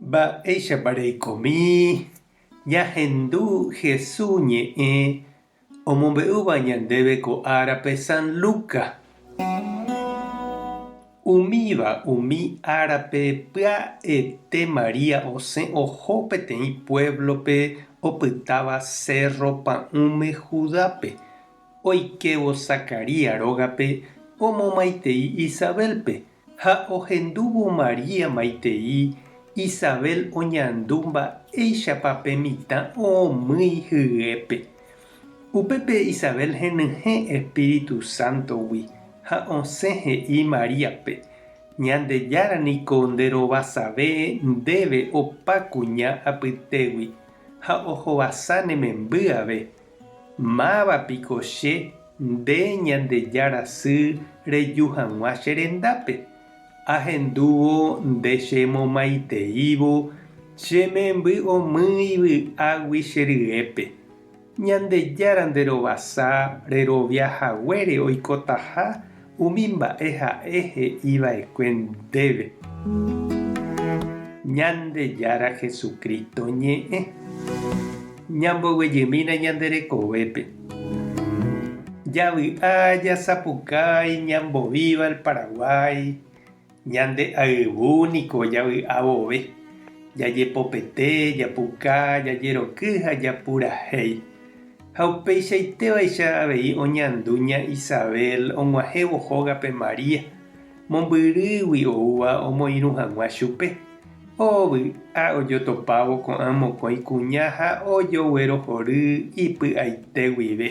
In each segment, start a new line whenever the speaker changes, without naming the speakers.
Mba'éichapa reikomi ñahendu Hesu ñe'ẽ omombe'úva ñandéve ko árape San Luka? Umíva umi árape pya'ete María osẽ oho peteĩ puévlope opytáva Sérro Pa'ũme Judápe. Oikévo Zacarías rógape omomaitei Isabélpe. Ha ohendúvo María maitei Isabel oñandu mba'éichapa pe mitã oomýi hyépe. Upépe Isabel henyhẽ Espíritu Santo-gui ha osẽ he'i Maríape, Ñandejára niko nde rovasave ndéve opa kuña apytégui ha ohovasa ne memby ave. Máva piko che Nde Ñandejára sy reju hag̃ua che rendápe, ahendúvo nde che momaiteívo che memby omy ivy'águi che ryépe. Ñandejára nde rovasa rerovia haguére oikotaha Umi mba'e ha'e he'i va'ekue ndéve Ñandejára Jesucristo ñe'ẽ, ñamboguejymína ñande rekovépe. Javy'a jasapukái ñambovíva el Paraguái. Ñande ayvu niko javy'a vove, jajepopete, japuka, jajeroky ha japurahéi. Ha upeichaitévaicha avei oñandu ña Isabel og̃uahẽvo hógape María, mombyrýgui oúva omoirũ hag̃ua chupe. Oh vy'a ojotopávo ko'ã mokõi kuña ha ojoguerohory ipy'aite guive.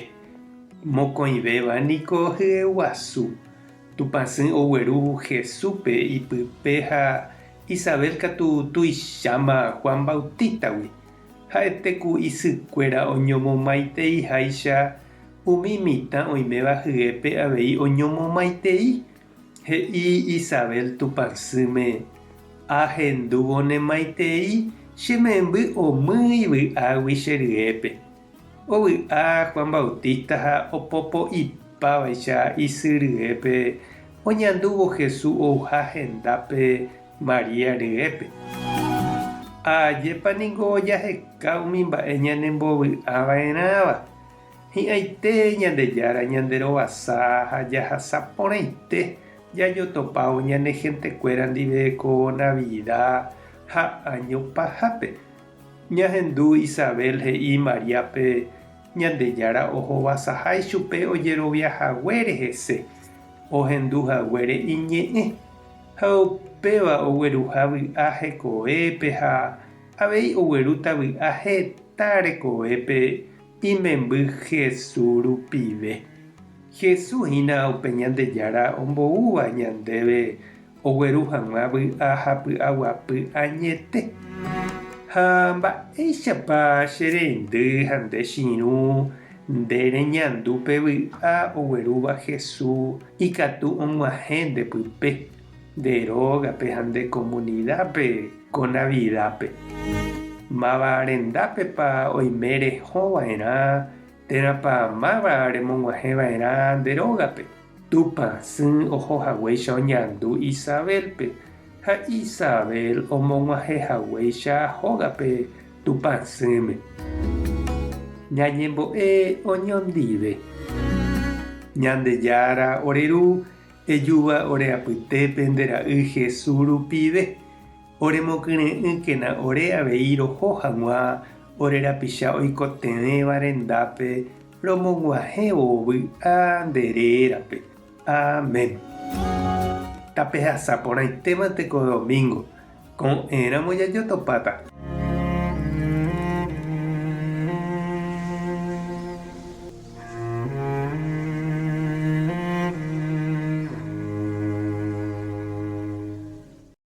Mokõivéva niko hyeguasu, Tupã sỹ ogueru Jesúspe ipype ha Isabel katu tuicháma Juan Bautístagui. Ha'ete ku isykuéra oñomomaiteiháicha umi mitã oiméva hyépe avei oñomomaitei. He'i Isabel Tupã sỹme, Ahendúvonemaitei che memby omýi vy'águi che ryépe. Ovy'a Juan Bautista ha opopo'ipávaicha isy ryépe, oñandúvo Jesús ouha hendápe María ryépe. Ha ajépa ningo jaheka umi mba'e ñanembovy'ava'erãva! Hi'ãite Ñandejára ñanderovasa ha jahasa porãite jajotopávo ñane hentekuéra ndive ko Navida ha año pahápe, Ñahendu Isabel he'i Mariápe, Ñandejára ohovasaha ichupe ojerovia haguére hese, ohendu haguére iñe'ẽ, ha upéva ogueruha vy'a hekovépe ha avei oguerúta vy'a heta rekovépe imemby Hesu rupive. Hesu hína upe Ñandejára omboúva ñandéve Ogueru hag̃ua vy'a ha py'aguapy añete. Ha mba'éichapa che rendy ha nde chirũ nde reñandu pe vy'a oguerúva Hesu ikatu og̃uahẽ nde pype, nde rógape ha nde komunidápe ko Navidápe? Máva rendápepa oime rehõ va'erã térãpa máva remog̃uahẽ va'erã nde rógape? Tupã sỹ oho haguéicha oñandu Isabélpe, ha Isabel omog̃uahẽ haguéicha hógape Tupã sỹme. Ñañembo'e oñondive. Ñandejára ore Ru, ejúva ore apytépe nde Ra'y Jesús rupive. Oremokyre'ỹkena ore avei roho hag̃ua ore rapicha oikotevẽva rendápe Romog̃uahẽ oo vy'a nde rérape. Amén. Tapehasa porãitémante ko domingo. Ko'ẽramo jajotopáta.